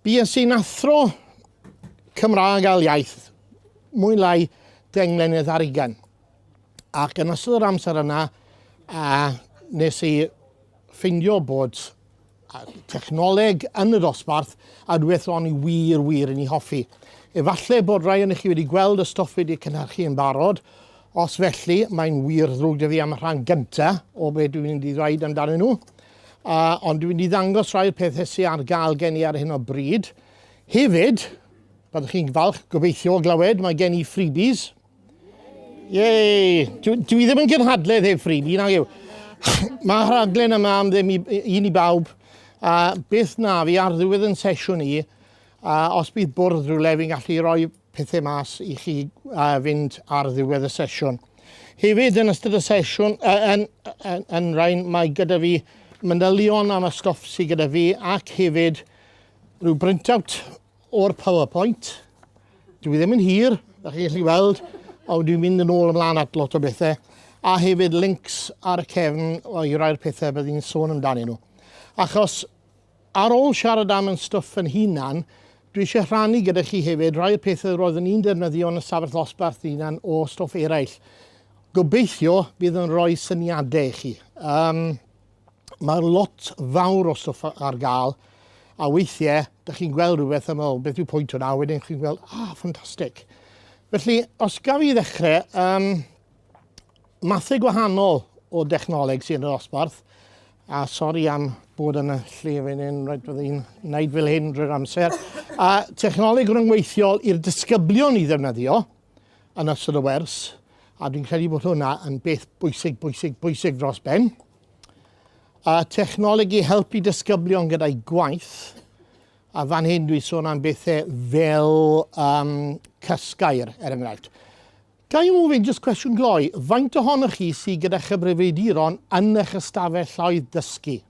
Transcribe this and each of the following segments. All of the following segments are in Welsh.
Bues sy'n athro Cymraeg ail iaith mwy lai deng mlynedd ar ugen. Ac yn ystod yr amser yna, a nes i ffeindio bod a thechnoleg yn y dosbarth a rhywbeth ro'n i wir, wir yn ei hoffi. Efallai bod rai o'n chi wedi gweld y stwff wedi cynhyrchu yn barod, os felly mae'n wir ddrwg da fi am y rhan gynta o beth dwi'n mynd i ddweud amdanyn nhw, uh, ond dwi'n mynd i ddangos rhai'r pethau sy'n ar gael gen i ar hyn o bryd. Hefyd, byddwch chi'n falch gobeithio o glywed, mae gen i freebies, Yay! Dwi, dwi ddim yn gynhadledd heb ffrin, un ag yw. Mae rhaglen yma am ddim i, un i bawb. A beth na fi ar ddiwedd yn sesiwn i, a os bydd bwrdd rhywle fi'n gallu rhoi pethau mas i chi a fynd ar ddiwedd y sesiwn. Hefyd yn ystod y sesiwn, yn, yn, yn rhain, mae gyda fi manylion am y stwff sydd gyda fi ac hefyd rhyw brintout O'r PowerPoint. Dwi ddim yn hir, da chi'n gallu weld, ond dwi'n mynd yn ôl ymlaen at lot o bethau, a hefyd links ar y cefn i rai'r pethau bydd i'n sôn amdani nhw. Achos ar ôl siarad am yn stwff yn hunan, dwi eisiau rhannu gyda chi hefyd rai'r pethau roeddwn i'n defnyddio yn y safell ddosbarth hunan o stwff eraill. Gobeithio bydd yn rhoi syniadau i chi. Um, mae lot fawr o stwff ar gael, a weithiau, da chi'n gweld rhywbeth a meddwl, beth yw pwynt hwnna, a wedyn chi'n gweld, ah, ffantastig. Felly, os gaf i ddechrau, um, mathau gwahanol o dechnoleg sy'n yr osbarth, a sori am bod yn y lle fan hyn, rhaid bod i'n wneud fel hyn drwy'r amser, a technoleg rhyngweithiol i'r disgyblion i ddefnyddio, yn ystod y wers, a dwi'n credu bod hwnna yn beth bwysig, bwysig, bwysig dros ben. A technoleg i helpu disgyblion gyda'i gwaith, a fan hyn dwi'n sôn am bethau fel um, cysgair, er enghraifft. Ga i ofyn jyst cwestiwn gloi, faint ohonoch chi sydd gyda chyfrifiaduron yn eich ystafell llaeth dysgu?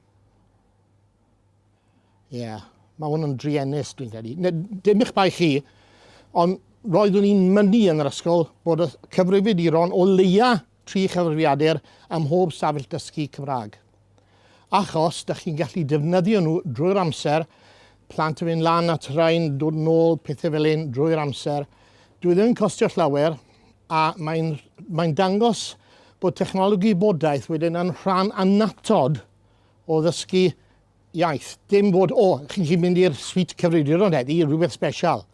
Ie, yeah, mae hwn yn druenus dwi'n credu. Dim eich bai chi, ond roeddwn i'n mynnu yn yr ysgol bod y cyfrifyd i ron o leia tri chyfrifiadur am mhob safell dysgu Cymraeg. Achos, da chi'n gallu defnyddio nhw drwy'r amser, plant yn mynd lan at rhain, dod nôl, pethau fel un drwy'r amser. Dwi ddim yn costio llawer, a mae'n mae dangos bod technoleg gwybodaeth wedyn yn rhan annatod o ddysgu iaith. Dim bod, o, chi'n gallu mynd i'r sweet cyfrifiaduron heddi, rhywbeth special.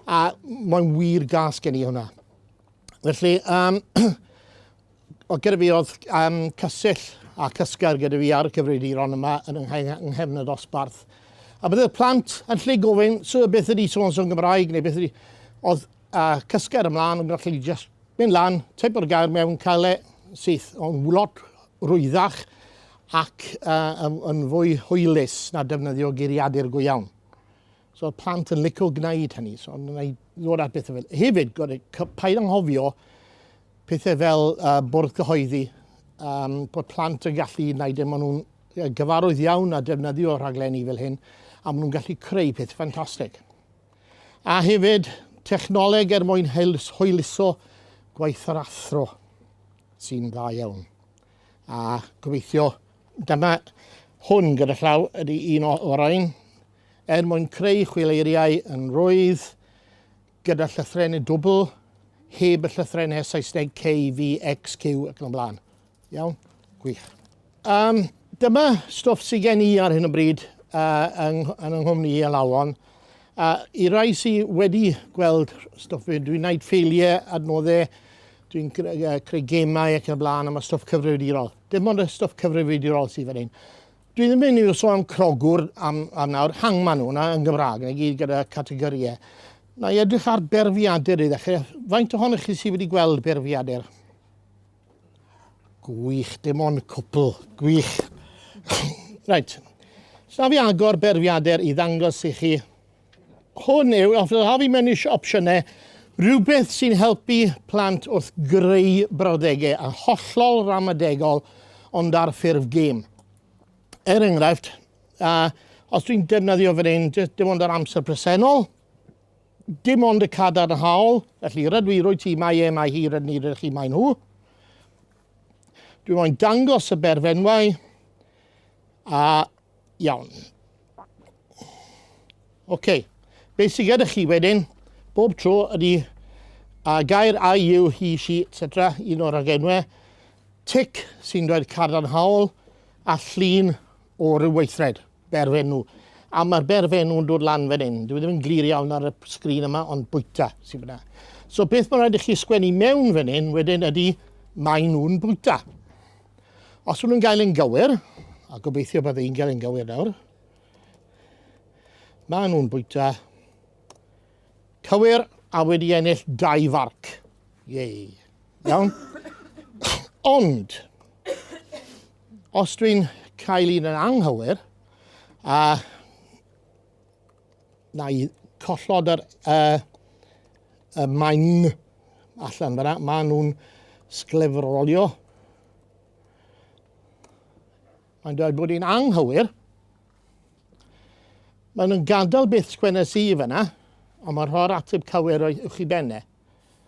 A mae'n wir gas gen i hwnna. Felly, um, o gyda fi oedd um, cysill a cysgair gyda fi ar y cyfrifiaduron yma yn nghefn y dosbarth. A byddai'r plant yn lle gofyn, so beth ydi so-and-so yn Gymraeg, neu beth ydi... Oedd A cysgu ar ymlaen yn gallu just mynd lan, teipo'r gair mewn, cael e syth o'n lot rwyddach ac uh, yn fwy hwylus na defnyddio geiriadur go iawn. So oedd plant yn licio gwneud hynny, so yn gwneud ddod at bethau fel. Hefyd, gwneud, paid anghofio pethau fel uh, bwrdd cyhoeddi, um, bod plant yn gallu gwneud e, maen nhw'n gyfarwydd iawn a defnyddio rhaglenni fel hyn, a maen nhw'n gallu creu peth ffantastig. A hefyd, technoleg er mwyn hwyluso gwaith yr athro, sy'n dda iawn. A gobeithio, dyma hwn gyda llaw ydy un o orain, er mwyn creu chwileiriau yn rwydd, gyda llythrenau dwbl, heb y llythrenau Saesneg K, V, X, Q ac yn y blaen. Iawn, gwych. Um, dyma stwff sydd gen i ar hyn o bryd uh, yn, yn nghwmni i alawon. Uh, I rai sydd wedi gweld stwff fi, dwi'n gwneud ffeiliau, adnoddau, dwi'n creu gemau ac yn y blaen, a mae stwff cyfrifiadurol. Dim ond y stwff cyfrifiadurol sydd fan hyn. Dwi ddim yn iwso am crogwr am, am nawr, hangman hwnna yn Gymraeg, neu gyd gyda categoriau. Na i edrych ar berfiadur i ddechrau. Faint ohonych chi sydd wedi gweld berfiadur? Gwych, dim ond cwpl. Gwych. Reit. Sna fi agor berfiadur i ddangos i chi. Hwn yw, os ydych fi mewn eisiau opsiynau, rhywbeth sy'n helpu plant wrth greu brawddegau a hollol ramadegol ond ar ffurf gêm. Er enghraifft, uh, os dwi'n defnyddio fan hyn, dim ond yr amser presennol, Dim ond y cadarnhaol, felly rydw i, rwyt ti, mae e, mae hi, rydyn ni, rydych chi, maen nhw. Dwi'n moyn dangos y berfenwau a iawn. Oce, okay. beth sydd gyda chi wedyn, bob tro ydy a gair a yw hi, si, etc, un o'r agenwau, tic sy'n dweud cadarnhaol a llun o ryw weithred, berfenw. A mae'r berfenw yn dod lan fan hyn. Dwi ddim yn glir iawn ar y sgrin yma, ond bwyta sy'n fyna. So beth mae'n rhaid i chi sgwennu mewn fan hyn wedyn ydy mae nhw'n bwyta. Os nhw'n gael yn gywir, a gobeithio bod yn gael yn gywir nawr, mae nhw'n bwyta cywir a wedi ennill dau farc. Yei. Iawn? Ond, Os dwi'n cael un yn anghywir, a na i collod yr, uh, y maen allan fyna, maen nhw'n sglefrolio. Mae'n dweud bod hi'n anghywir. Maen nhw'n gadael beth sgwennes i fyna, ond mae'n rhoi'r ateb cywir o'ch i benne.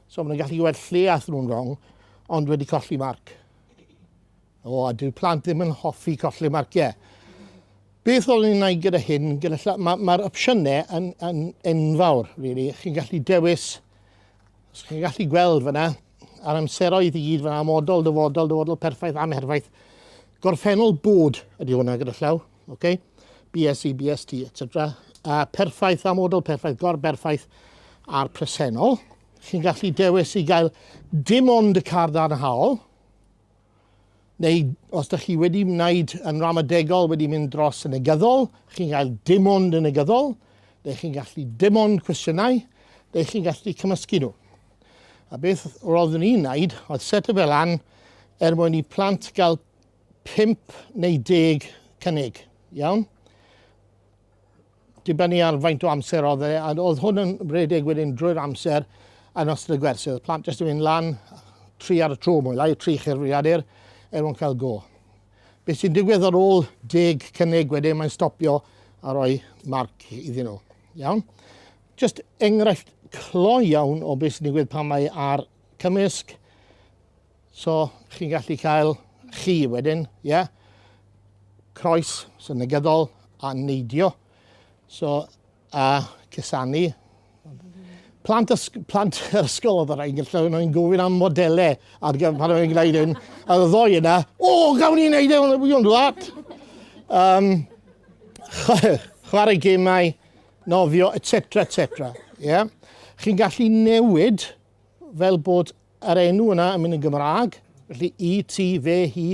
So maen nhw'n gallu gweld lle ath nhw'n wrong, ond wedi colli marc. O, a dyw plant ddim yn hoffi colli marciau. Beth o'n i'n ei gyda hyn, gyda lla, mae'r ma opsiynau yn, yn enfawr, really. Chi'n gallu dewis, os chi'n gallu gweld fyna, a'r amseroedd i gyd fyna, modol, dyfodol, dyfodol perffaith, amherfaith. Gorffennol bod ydy hwnna gyda llaw. ok? BSE, BST, etc. Uh, perffaith, amodol perffaith, gorberffaith a'r presennol. Chi'n gallu dewis i gael dim ond y car ddarnhaol, neu os ydych chi wedi wneud yn ramadegol, wedi mynd dros yn negyddol, chi'n cael dim ond yn negyddol, neu chi'n gallu dim ond cwestiynau, neu chi'n gallu cymysgu nhw. A beth roeddwn i'n wneud oedd set o fel an er mwyn i plant gael 5 neu 10 cynnig, iawn? Dibynnu ar faint o amser oedd e, a oedd hwn yn rhedeg wedyn drwy'r amser yn ystod y gwersi. Oedd plant jyst yn mynd lan tri ar y tro mwy lai, tri chyrfriadur, er mwyn cael go. Beth sy'n digwydd ar ôl deg cynnig wedyn, mae'n stopio a rhoi marc iddyn nhw. Iawn? Just enghraifft clo iawn o beth sy'n digwydd pan mae ar cymysg So, chi'n gallu cael chi wedyn, ie? Yeah? Croes sy'n negyddol a neidio. So, a cysanu. Plant, ysg plant yr ysgol oedd yr ein gallu nhw'n gofyn am modelau ar gyfer pan o'n i'n gwneud hyn. A y ddoi yna, o, oh, gawn ni'n neud hyn, e, we don't do that. Um, chwarae gemau, nofio, etc, etc. Yeah? Chi'n gallu newid fel bod yr enw yna yn mynd yn Gymraeg, felly i, ti, fe, hi.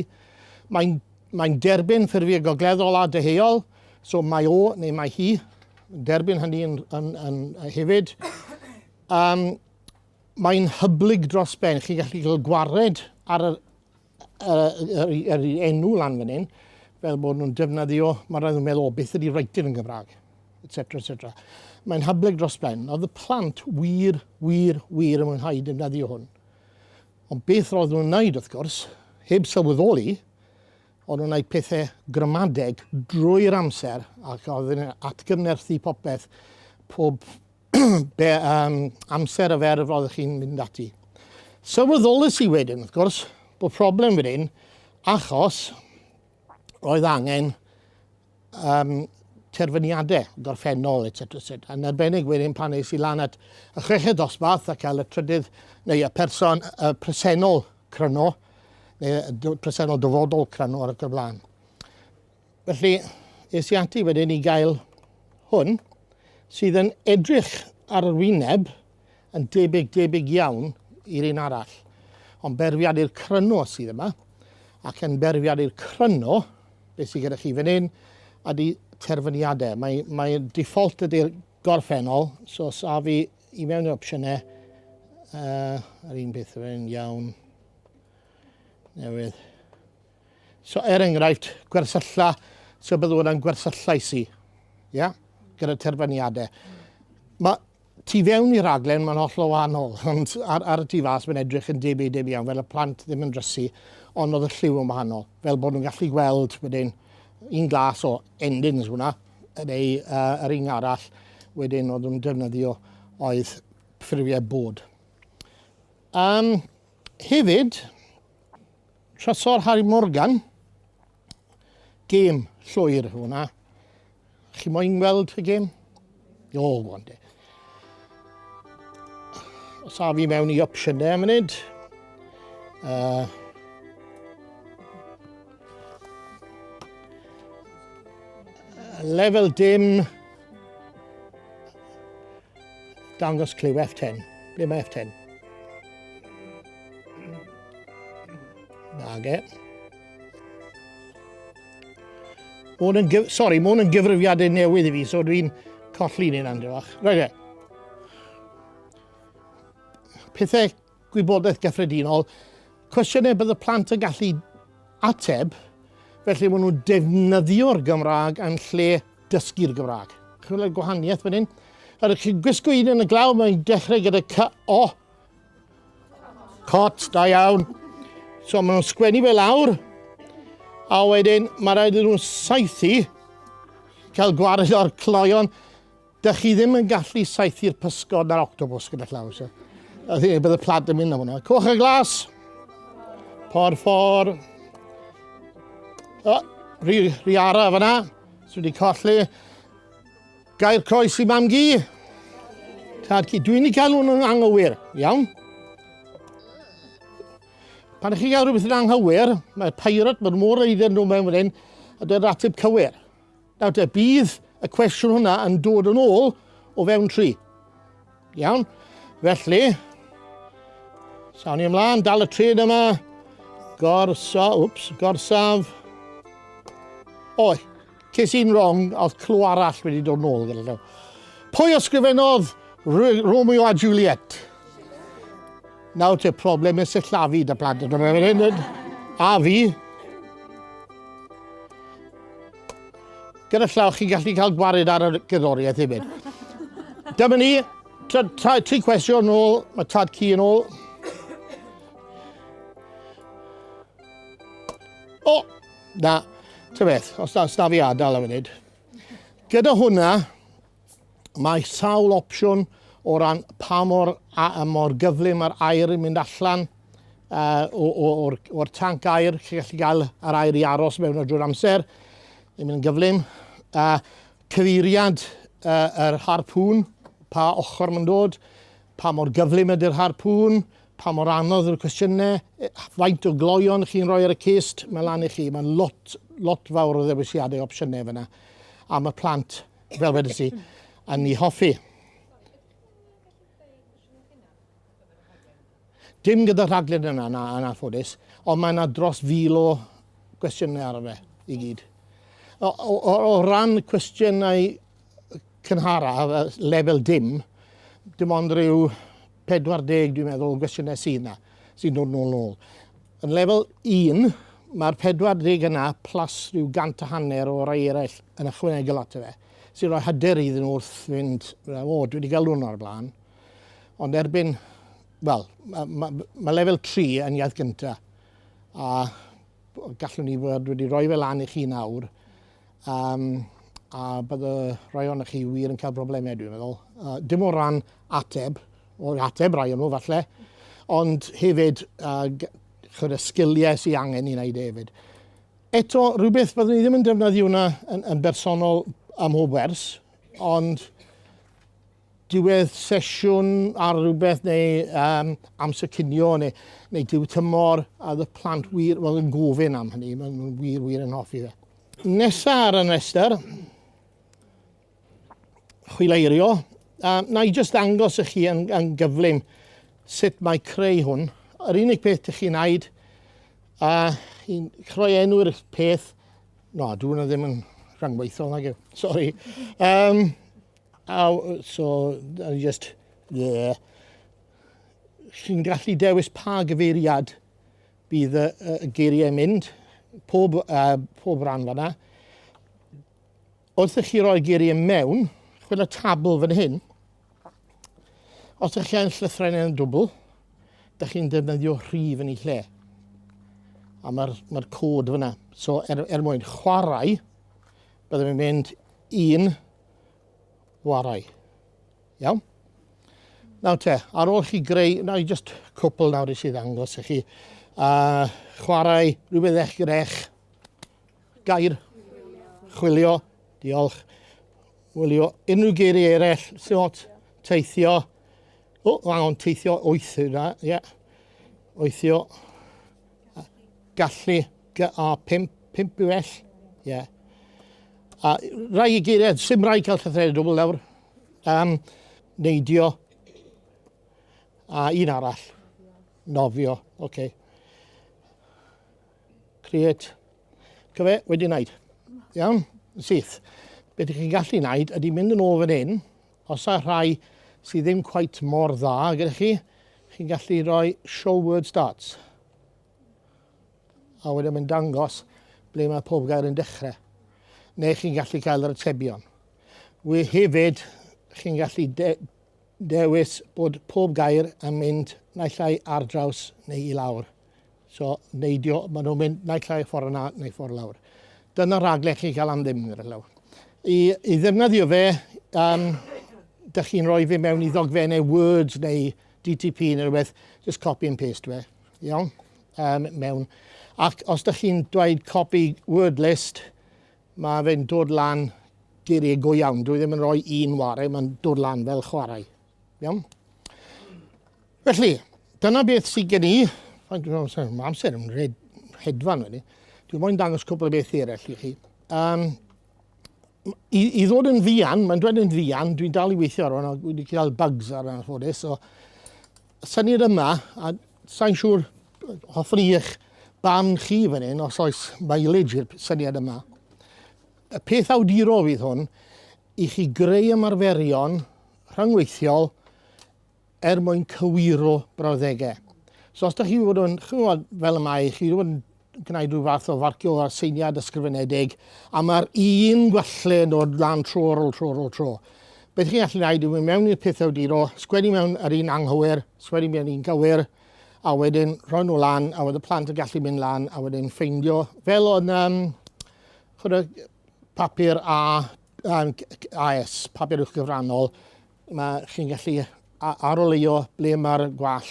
Mae'n mae derbyn ffurfiau gogleddol a deheuol, so mae o neu mae hi, derbyn hynny yn, yn, yn, yn hefyd. Um, mae'n hyblyg dros ben, chi'n gallu cael gwared ar yr yr, yr, yr enw lan fan hyn, fel bod nhw'n defnyddio, mae rhaid nhw'n meddwl, o, beth ydy writer yn Gymraeg, etc. etc. Mae'n hyblyg dros ben. Oedd y plant wir, wir, wir yn mwynhau defnyddio hwn. Ond beth roedd nhw'n wneud, wrth gwrs, heb sylweddoli, oedd nhw'n gwneud pethau gramadeg drwy'r amser ac oedd yn atgyfnerthu popeth, pob be, um, amser a fer roeddech chi'n mynd ati. Sylweddolus i wedyn, wrth gwrs, bod problem wedyn, achos roedd angen um, terfyniadau gorffennol, etc. etc. Yn arbennig wedyn pan eis i lan at y chweched dosbarth a cael y trydydd neu y person y presennol cryno, neu y presennol dyfodol cryno ar y blaen. Felly, es i ati wedyn i gael hwn, sydd yn edrych ar yr wyneb yn debyg, debyg iawn i'r un arall. Ond berfiad i'r cryno sydd yma, ac yn berfiad i'r cryno, beth sydd gyda chi fan hyn, ydy terfyniadau. Mae, mae default ydy'r gorffennol, so saf i, i mewn i'r opsiynau, uh, yr un peth fan hyn iawn, newydd. So er enghraifft, gwersylla, so byddwn hwnna'n gwersyllais i, ia, gyda terfyniadau. Mae tu fewn i raglen mae'n hollol wahanol, ond ar, ar y tu fas mae'n edrych yn debyg debyg iawn, fel y plant ddim yn drysu, ond oedd y lliw yn wahanol. Fel bod nhw'n gallu gweld wedyn un glas o endings hwnna, neu uh, yr un arall wedyn oedd nhw'n defnyddio oedd ffurfiau bod. Um, hefyd, Trysor Harry Morgan. Gêm llwyr hwnna. Chi moyn gweld y gêm? O, gwan de. Os a fi mewn i opsiynau am munud. Uh, lefel dim Dangos cliw F10. Ble mae F10? Nage. Mae'n yn gyf... Sori, mae'n yn gyfrifiadau newydd i fi, so dwi'n colli ni'n andrywach. Roedd e. Pethau Gwybodaeth gyffredinol, cwestiynau bydd y plant yn gallu ateb, felly maen nhw'n defnyddio'r Gymraeg yn lle dysgu'r Gymraeg. Chwilio'r y gwahaniaeth fan hyn. Yr ydych chi'n gwisgo un yn y glaw, mae'n dechrau gyda cy o. Cot, da iawn. So maen nhw'n sgwennu fe lawr, a wedyn mae rhaid iddyn nhw'n saethu, cael gwared o'r cloion, Dych chi ddim yn gallu saethu'r pysgod na'r octopus gyda llaw, so. I think bydd y plant yn mynd am hwnna. Coch y glas! Por ffor. O, rhi, rhi ara fyna. Swy wedi colli. Gair croes i mam gi. Tad ci. Dwi'n i cael hwnnw'n anghywir. Iawn. Pan ych chi gael rhywbeth yn anghywir, mae pirate, mae'r môr eiddyn nhw mewn fan hyn, a dweud ratib cywir. Nawr te, bydd y cwestiwn hwnna yn dod yn ôl o fewn tri. Iawn? Felly, sawn ni ymlaen, dal y tren yma, gorsa, wps, gorsaf. Oi, ces i'n wrong, oedd clw arall wedi dod yn ôl gyda llaw. Pwy ysgrifennodd Romeo a Juliet? Nawr te, problem nes y llafu da plant. A fi, Gyda llaw, chi'n gallu cael gwared ar y gerddoriaeth hefyd. Dyma ni, tri cwestiwn yn ôl, mae tad ci yn ôl. O, oh, na, ty beth, os na, os na fi adael am funud. Gyda hwnna, Mae sawl opsiwn o ran pa mor, a, mor gyflym mae'r aer yn mynd allan uh, o'r, or tanc aer. Chi'n gallu cael yr aer i aros mewn drwy'r amser. Yn mynd yn gyflym. Uh, cyfeiriad uh, yr harpŵn, pa ochr mae'n dod, pa mor gyflym ydy'r harpŵn, pa mor anodd yw'r cwestiynau, e, faint o gloion chi'n rhoi ar y cist, mae lan i chi. Mae'n lot, lot fawr o ddewisiadau opsiynau fyna am y plant. Fel wedys i, a ni hoffi. Dim gyda rhaglen yna, na, yn anffodus, ond mae yna dros fil o gwestiynau ar fe i gyd. O, o, o, o ran cwestiynau cynhara, lefel dim, dim ond rhyw 40, dwi'n meddwl, o gwestiynau sydd yna, sy'n dod nôl nôl. Yn Lefel Un, mae'r 40 yna plus rhyw gant a hanner o rai eraill yn ychwanegol ato fe, sy'n rhoi hyder iddyn nhw wrth fynd, o, dwi wedi galw hwnna o'r blaen. Ond erbyn, wel, mae ma, ma Lefel Tri yn iaith gyntaf, a gallwn ni fod wedi rhoi fe lan i chi nawr, um, a bydd y rhai o'na chi wir yn cael problemau, dwi'n meddwl. Uh, dim o ran ateb, o'r ateb, rai o nhw falle, ond hefyd uh, chyd, y sgiliau sy'n angen i wneud e hefyd. Eto, rhywbeth byddwn ni ddim yn defnyddio hwnna yn, yn bersonol am mhob wers, ond diwedd sesiwn ar rhywbeth neu um, amser cinio neu, neu diw tymor a y plant wir well, yn gofyn am hynny, mae'n wir wir yn hoffi fe. Nesa ar y rhestr, chwileirio. A na i jyst ddangos i chi yn, yn gyflym sut mae creu hwn. Yr unig peth ych chi'n aid a chi'n chroi enw'r peth. No, dwi hwnna ddim yn rhangweithol nag yw. Sorry. Um, a, so, I just... Yeah. Chi'n gallu dewis pa gyfeiriad bydd y, y geiriau mynd, pob, uh, pob rhan fanna. Wrth i chi roi geiriau i mewn, chwyn y tabl fan hyn. Os ydych chi'n llythrain yn dwbl, ydych chi'n defnyddio rhif yn ei lle. A mae'r mae cod fyna. So, er, er mwyn chwarae, byddwn i'n mynd un warai. Iawn? Nawr te, ar ôl chi greu, nawr i just cwpl nawr i sydd angos i chi, uh, chwarae rhywbeth eich gyda eich Gair, chwilio, diolch. Wylio unrhyw geiriau eraill, sort, teithio. O, oh, angon teithio wyth yna, ie. Yeah. Wythio. Gallu, GA5, 5 yw ell, ie. Yeah. A rai i geiriau, sy'n rai cael llythread dwbl lawr. Um, neidio. A un arall, nofio, oce. Okay. Create. Cyfe, wedi wneud. Iawn, yn syth. Beth ydych chi'n gallu wneud ydy mynd yn ôl fan hyn, os y'a rhai sydd ddim cweit mor dda gyda chi, chi'n gallu rhoi show word starts. A wedyn mae'n dangos ble mae pob gair yn dechrau. Neu chi'n gallu cael yr atebion. We hefyd, chi'n gallu dewis bod pob gair yn mynd naill ai ar draws neu i lawr. So, neidio, maen nhw'n mynd naill ai ffordd yna neu ffordd lawr. Dyna rhaglen chi'n cael am ddim, gyda llaw. I, I ddefnyddio fe, um, dych chi'n rhoi fe mewn i ddogfennau Words neu DTP neu rhywbeth, just copy and paste fe, iawn, um, mewn. Ac os dych chi'n dweud copy word list, Mae fe'n dod lan geiriau go iawn. Dwi ddim yn rhoi un ware, mae'n dod lan fel chwarae. Iawn? Felly, dyna beth sydd gen i. Mae amser yn red, hedfan wedi. Dwi'n moyn dangos cwbl o beth eraill i chi. Um, i, I ddod yn ddian, mae'n dweud yn ddian, dwi'n dal i weithio ar hwnna, wedi cael bugs ar yna ffodus, so Sa'n ni'n yma, a sa'n siŵr, hoffwn i eich barn chi fan hyn, os oes mileage i'r syniad yma. Y peth awdurol fydd hwn, i chi greu ymarferion rhyngweithiol er mwyn cywiro brawddegau. So os da chi wedi bod yn, chymod, fel y mae, chi wedi bod yn gwneud rhyw fath o farcio ar seiniad ysgrifenedig, a mae'r un gwalle yn dod lan tro ar ôl tro ar ôl tro. Beth chi'n gallu gwneud yw mynd mewn i'r peth awduro, sgwennu mewn yr un anghywir, sgwennu mewn un gywir, a wedyn rhoi nhw lan, a wedyn y plant yn gallu mynd lan, a wedyn ffeindio, fel o'n um, chwrdd, papur a, a, AS, papur uwch gyfrannol, Mae chi'n gallu aroleuo ble mae'r gwall.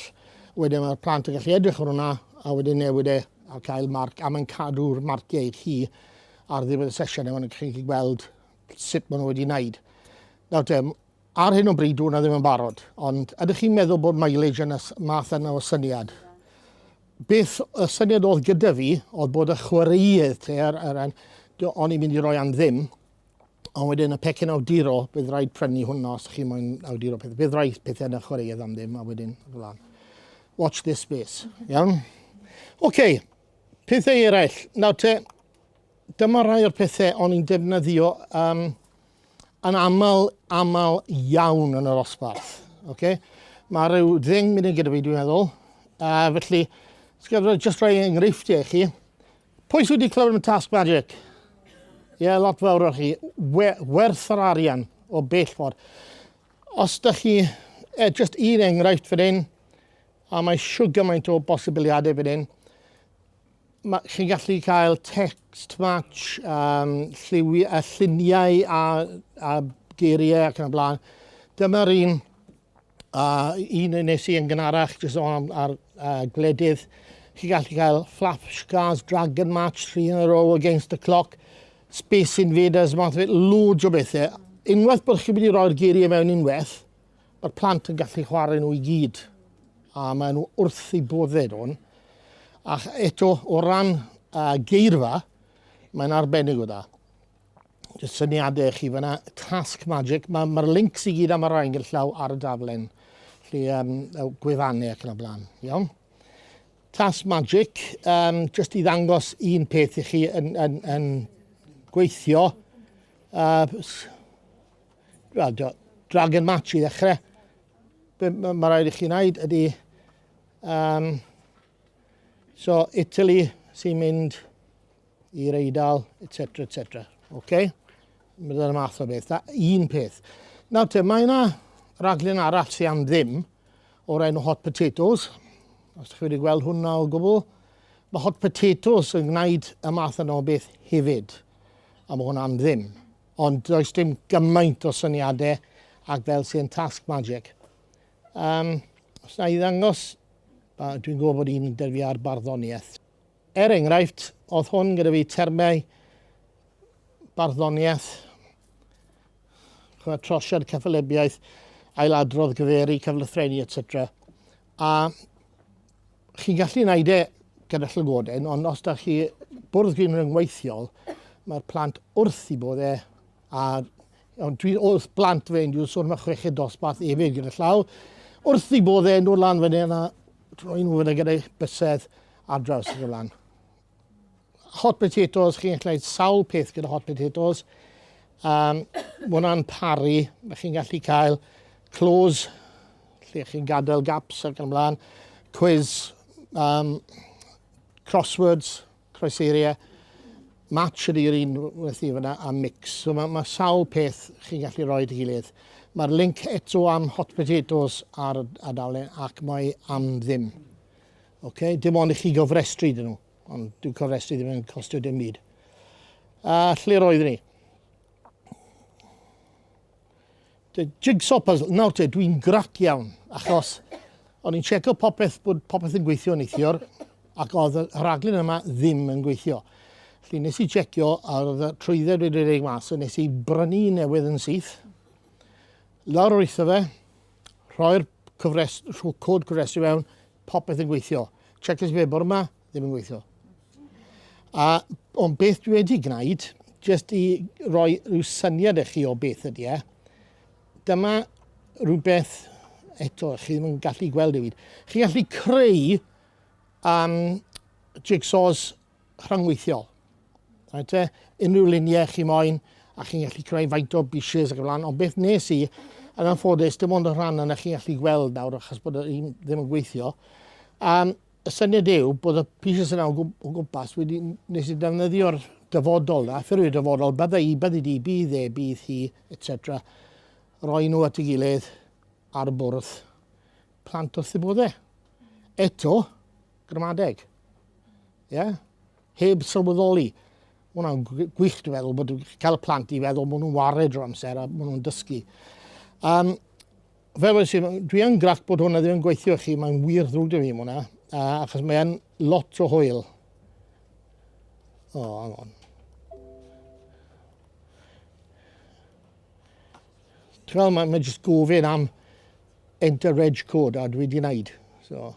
Wedyn mae'r plant yn gallu edrych ar hwnna a wedyn newid e a cael marc a mae'n cadw'r marciau i chi ar ddiwedd y sesiwn a mae'n chi'n gallu gweld sut maen nhw wedi wneud. Nawr te, ar hyn o bryd dwi'n hwnna ddim yn barod, ond ydych chi'n meddwl bod mileage yn y math yna o syniad? Beth y syniad oedd gyda fi oedd bod y chwaraeodd te, er, er, o'n i'n mynd i roi am ddim, Ond wedyn y pecyn awduro, bydd rhaid prynu hwnna os chi moyn awduro pethau. Bydd rhaid pethau yna chwaraeedd am ddim a wedyn flan. Watch this space. Iawn? Oce, okay. pethau eraill. Nawr te, dyma rhai o'r pethau o'n i'n defnyddio um, yn aml, aml iawn yn yr osbarth. Okay? Mae rhyw ddeng munud gyda fi, dwi'n meddwl. A felly, jyst rhoi enghreifftiau i chi. Pwy sydd wedi clywed am y Tasg Magic? Ie, yeah, lot fawr o chi. We werth yr arian o bell ffordd. Os da chi, eh, just un enghraifft fan hyn, a mae siw gymaint o bosibiliadau fan hyn, chi'n gallu cael text match, um, lliwi, a lluniau a, a geiriau ac yn y blaen. Dyma'r un A un yn nes i yn gynharach, jyst o'n am ar uh, gledydd, chi gallu cael Flash Cars Dragon Match 3 yn a row against the clock, Space Invaders, math o beth, loads o bethau. Unwaith bod chi wedi rhoi'r geiriau mewn unwaith, mae'r plant yn gallu chwarae nhw i gyd. A maen nhw wrth i bodded o'n. Ac eto, o ran uh, geirfa, mae'n arbennig o da. Jyst syniadau i chi fyna. Tasg magic. Mae'r ma links i gyd am yr ail llaw ar y daflen. Felly, um, gwefannau ac yn y blaen. Iawn? Tasg magic. Um, jyst i ddangos un peth i chi yn, yn, yn gweithio. Uh, well, drag and match i ddechrau. Be mae ma rhaid i chi wneud ydy... Um, so, Italy sy'n mynd i'r eidal, etc, etc. Ok? Byddai'r math o beth. Da, un peth. Nawr te, mae yna raglen arall sy'n am ddim o'r enw Hot Potatoes. Os chi wedi gweld hwnna o gwbl, mae Hot Potatoes yn gwneud y math yna o beth hefyd. A mae hwnna am ddim. Ond does dim gymaint o syniadau ac fel sy'n Task Magic. Um, os na i ddangos, dwi'n gwybod bod un dyfu ar barddoniaeth. Er enghraifft, oedd hwn gyda fi termau barddoniaeth, chwa, trosiad cyffelybiaeth, ailadrodd gyferi, cyflythreni, etc. A chi'n gallu wneud e gyda llygoden, ond os da chi bwrdd grin rhyngweithiol, mae'r plant wrth i bod e A ond dwi wrth blant fe, dwi'n sôn am y chweched dosbarth efyd gyda llaw, wrth i bod e'n dod lan fyny yna, troi nhw fyny gyda'i bysedd ar draws y lan. Hot potatoes, chi'n gallu gwneud sawl peth gyda hot potatoes. Um, mae hwnna'n paru, mae chi'n gallu cael close, lle chi'n gadael gaps ac yn ymlaen, quiz, um, crosswords, Croesaeria match ydy yr un wnes di fyna a mix. So mae, mae sawl peth chi'n gallu rhoi dy gilydd. Mae'r link eto am hot potatoes ar y adalen ac mae am ddim. Okay? Dim ond i chi gofrestru dyn nhw, ond dwi'n cofrestru ddim yn costio dim byd. A lle roeddwn ni? The jigsaw puzzle. Nawr te, dwi'n grac iawn, achos o'n i'n checo popeth, bod popeth yn gweithio neithiwr, ac oedd y rhaglen yma ddim yn gweithio. Felly nes i checio, a oedd y trwydded wedi ei mas, so nes i brynu newydd yn syth, lawr o'r eitha fe, rhoi'r cyfres, rho cod cyfresu fewn, popeth yn gweithio. Checkers fe bore yma, ddim yn gweithio. A, ond beth dwi wedi gwneud, jyst i roi rhyw syniad i chi o beth ydy e, dyma rhywbeth, eto, chi ddim yn gallu gweld ei wyd. Chi gallu creu um, jigsaws rhyngweithiol. Right, e? Unrhyw luniau chi moyn, a chi'n gallu creu faint o bushes ac y blaen, ond beth nes i, yn anffodus, dim ond y rhan yna chi'n gallu gweld nawr achos bod e ddim yn gweithio. Um, Y syniad yw bod y pieces yna o gwmpas wedi nes i ddefnyddio'r dyfodol na, ffurfio dyfodol, bydda i, byddi di, bydd e, bydd hi, etc. Roi nhw at y gilydd ar y bwrdd, plant wrth y bodde. Eto, gramadeg. Ie? Yeah? Heb sylweddoli. Mae hwnna'n gwych, dwi'n meddwl, bod cael y plant i feddwl bod nhw'n wared o'r amser a bod nhw'n dysgu. Um, Fel oes i, dwi yn grac bod hwnna ddim yn gweithio i chi, mae'n wir ddrwg da fi am hwnna, achos mae'n lot o hwyl. O, oh, hang on. Ti'n mae, mae jyst gofyn am enter reg code a dwi wedi gwneud. So.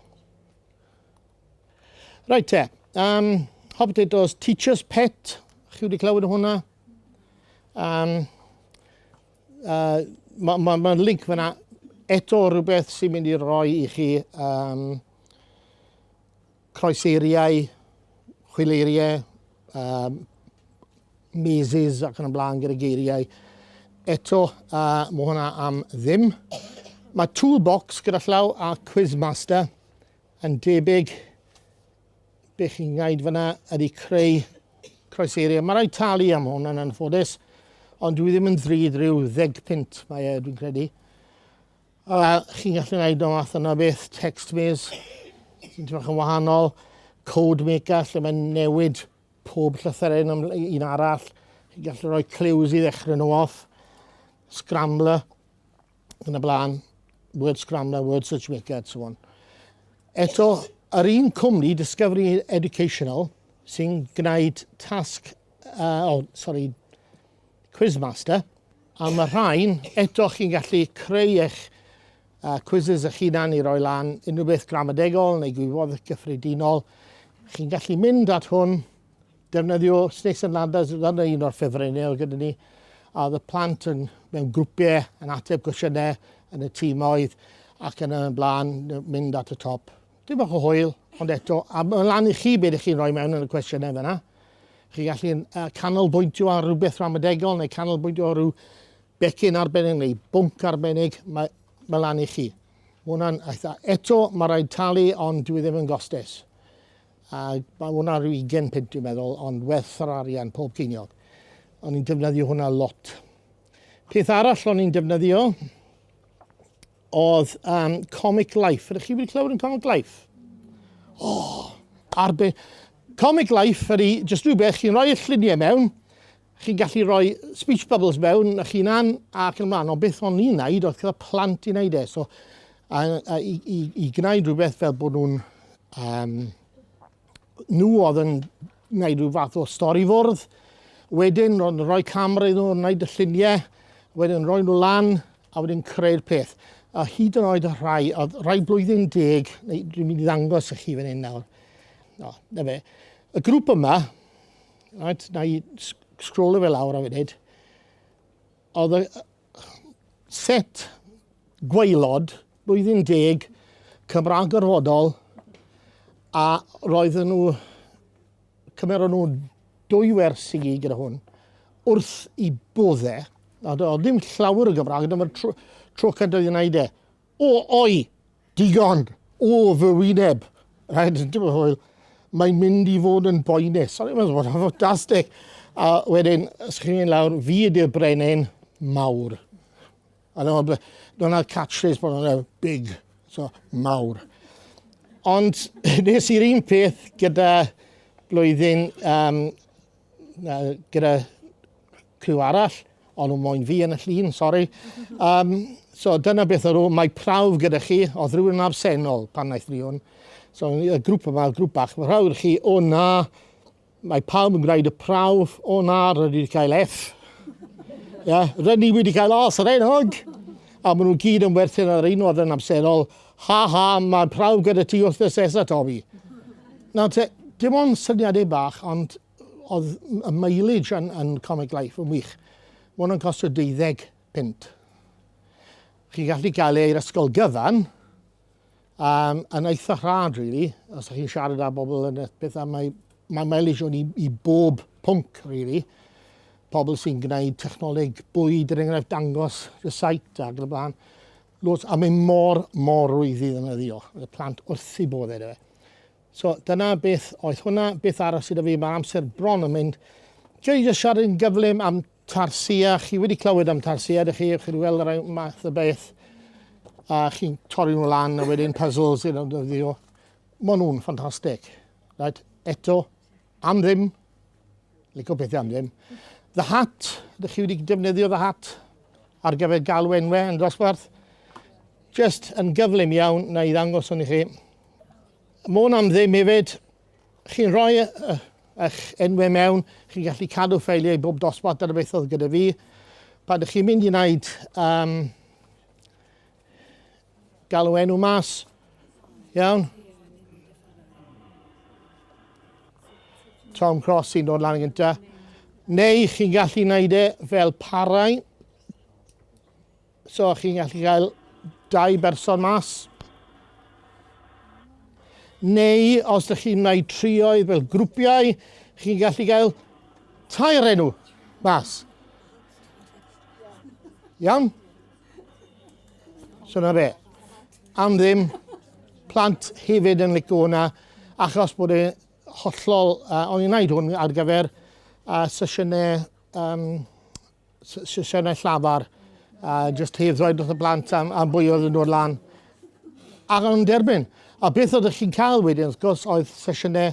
Right te, um, hot potatoes, teacher's pet, chi wedi clywed o hwnna? Um, Uh, Mae'n ma, ma link fyna eto rhywbeth sy'n mynd i roi i chi um, croeseiriau, chwileiriau, um, meses ac yn y blaen gyda geiriau. Eto, uh, mae hwnna am ddim. Mae Toolbox gyda llaw a Quizmaster yn debyg Be chi'n gaid fyna ydy creu croeseiriau. Mae rhaid talu am hwn yn anffodus, ond dwi ddim yn ddrud rhyw ddeg pint mae e, dwi'n credu. A chi'n gallu gwneud o math yna beth, text maze, sy'n trach yn wahanol, code maker, lle mae'n newid pob llythyren am un arall. Chi'n gallu rhoi clues i ddechrau nhw off, scrambler, yn y blaen, word scrambler, word search maker, so on. Eto, yr un cwmni, Discovery Educational, sy'n gwneud tasg, uh, oh, sorry, Quizmaster, a mae rhain, eto chi'n gallu creu eich uh, quizzes eich hunan i roi lan unrhyw beth gramadegol neu gwybodaeth gyffredinol. Chi'n gallu mynd at hwn Defnyddio Snakes and Ladders oedd yna un o'r ffefrynnau oedd gyda ni. A oedd y plant yn, mewn grwpiau yn ateb cwestiynau yn y tîmoedd ac yn y blaen mynd at y top. Dim bach o hwyl, ond eto, a mae'n lan i chi beth ych chi'n rhoi mewn yn y cwestiynau fyna. Chi gallu uh, canolbwyntio ar rhywbeth ramadegol neu canolbwyntio ar rhyw becyn arbennig neu bwnc arbennig, mae, mae lan i chi. Mae hwnna'n eitha. Eto, mae rhaid talu, ond dwi e ddim yn gostes. A mae hwnna rhyw 20 punt dwi'n meddwl, ond werth yr arian pob ceiniog. O'n i'n defnyddio hwnna lot. Peth arall o'n i'n defnyddio oedd um, Comic Life. Ydych chi wedi clywed yn Comic Life? O, oh, arbe... Comic Life ydy jyst rhywbeth chi'n rhoi y lluniau mewn, Chi'n gallu rhoi speech bubbles mewn a chi'n an ac yn mlaen, ond beth o'n i'n neud oedd gyda plant i'n neud e, so a, a, i, i, i gwneud rhywbeth fel bod nhw'n um, nhw oedd yn gwneud rhyw fath o stori fwrdd, wedyn ro'n rhoi camera iddyn nhw, wneud y lluniau, wedyn rhoi nhw lan, a wedyn creu'r peth. A hyd yn oed y rhai, oedd rhai blwyddyn deg, neu dwi'n mynd i ddangos i chi fan hyn nawr. No, na fe. Y grŵp yma, Right, na i sgrolo fe lawr am funud. Oedd y set gwaelod blwyddyn deg Cymraeg gorfodol a roedden nhw cymer nhw dwy wers i gyd gyda hwn wrth i bodde a oedd ddim llawer o Gymraeg dyma'r tro, tro cyntaf i wneud e O, oi! Digon! O, fy wyneb! Rhaid yn dweud hwyl, mae'n mynd i fod yn boenus. O'n i'n meddwl bod yn ffantastig. A wedyn, sgrin lawr, fi ydy'r brenin mawr. A dyna, dyna catchphrase bod nhw'n big, so mawr. Ond nes i'r un peth gyda blwyddyn, um, gyda Criw arall, o'n nhw moyn fi yn y llun, sori. Um, so dyna beth o'n nhw, mae prawf gyda chi, oedd rhywun yn absennol pan wnaeth ni hwn. So y grŵp yma, y grŵp bach, mae prawf gyda chi, o na, mae pawb yn gwneud y prawf, o na, rydyn ni wedi cael F. yeah, rydyn ni wedi cael os yr enog. A maen nhw gyd yn werthin ar un oedd yn absennol, ha ha, mae prawf gyda ti wrth y sesa, Tommy. Nawr te, dim ond syniadau bach, ond oedd y mileage yn, yn Comic Life yn wych. Mae hwnna'n costio 20 pint. Chi'n gallu cael ei i'r ysgol gyfan, um, yn eitha rhad, really, os ydych chi'n siarad â bobl yn y pethau. Mae, mae mileage o'n i, i bob pwnc, really. Pobl sy'n gwneud technoleg bwyd, er enghraifft, dangos y site ac yn y blaen. Lots, a mae mor, mor rwydd i ddefnyddio. Y plant wrth i bodd edo fe. So, dyna beth oedd hwnna. Beth arall sydd 'da fi? Mae amser bron yn mynd. Dwi jyst siarad yn gyflym am Tarsia. Chi wedi clywed am Tarsia, ydych chi? Chi wedi gweld y rhai math o beth. A chi'n torri nhw lan a wedyn puzzles iddyn nhw ddyddio. Maen nhw'n ffantastig. Right? Eto, Am ddim. Lico pethau am ddim. The Hat. Ydych chi wedi defnyddio The Hat ar gyfer galw enwau yn dosbarth? Just yn gyflym iawn na i ddangos hwn i chi. Môn am ddim hefyd. Chi'n rhoi eich enwau mewn, chi'n gallu cadw ffeiliau bob dosbarth dyna beth oedd gyda fi. Pan ydych chi'n mynd i wneud um, Galw enw mas. Iawn. Tom Cross sy'n dod lan yn gynta. Neu chi'n gallu gwneud e fel parau. So chi'n gallu cael dau berson mas. Neu os ydych chi'n gwneud trioedd fel grwpiau, chi'n gallu cael tair enw mas. Iawn? So na fe. Am ddim, plant hefyd yn licio hwnna, achos bod e hollol, uh, o'n i'n gwneud hwn ar gyfer uh, sesiynau, um, sesiynau llafar, uh, just hedd roi wrth y blant am, am bwy oedd yn dod lan. Ac o'n derbyn. A beth oedd chi'n cael wedyn, wrth gwrs, oedd sesiynau